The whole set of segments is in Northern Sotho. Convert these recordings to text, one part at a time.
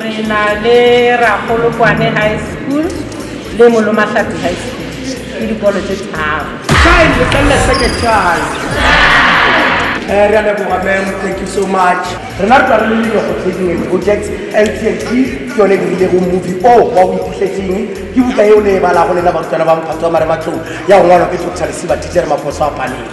Re na le Rakgolokwane High School le Molomahlapi High School, ke dikolo tse tharo. Shine, letlelele se ke shine. Eh, re a leboga ma'am, thank you so much. Rena re tla re le Leloko Trading and Projects Ltd, ke yone e dirilego movie o wa O Iphihletseng. Ke buka yeo le e balago lena barutwana ba Mophato wa Marematlou ya go ngwalwa ke Doctor Lesiba Teacher Maposo a Paleng.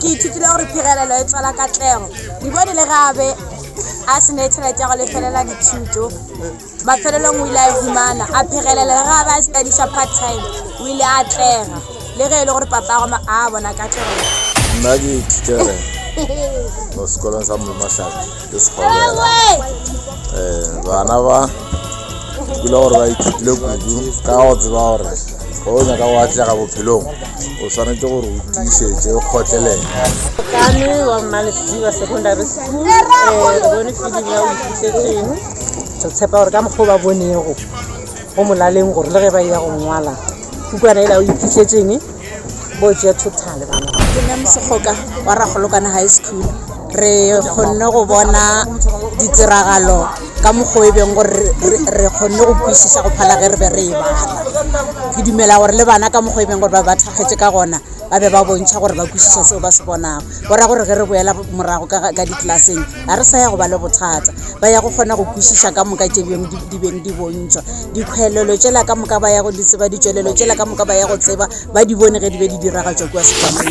ke ithutile gore phegelelo e tswala katlego dibone le gabe a se ne tšhelete ya go lefelela dithuto mafelelong o ile a e humana a phegelela le gabe a studiša part time o ile a atlega le ge e le gore papa go a bona katlego nna ke ithutele mo sekolong sa mmatladi ke sekgobela um bana ba kula gore ba ithutile kudu ka go tseba gore ge o nyaka go atlega bophelong o swanetse gore o tiišetse o kgotlelele kane wa mmalesiba secondary school um re bone filimi ya o ithutetseng re tshepa gore ka mokgwa o ba bonego go molaleng gore le ge ba ya go ngwala kukwana e la o iphitlhetseng mogokgo-ka wa ragolokwane high school re kgonne go bona ditiragalo ka mokgo e bego gore re kgonne go kwešiša go phala ge re be re e bala ke dumela gore le bana ka mokgo e bego gore ba ba thakgetše ka gona ba be ba bontšha gore ba kwešiša seo ba se bonago go ra gore ge re boela morago ka di-classeng. Ga re sa ya go ba le bothata. Ba ya go kgona go kwešiša ka moka tše bjong di, di beng di bontšhwa. Dikhoelelo tšela ka moka ba ya go di tseba, ditšwelelo tšela ka moka ba ya go tseba, ba di bone ge di be di diragatšwa kua sefahlogo.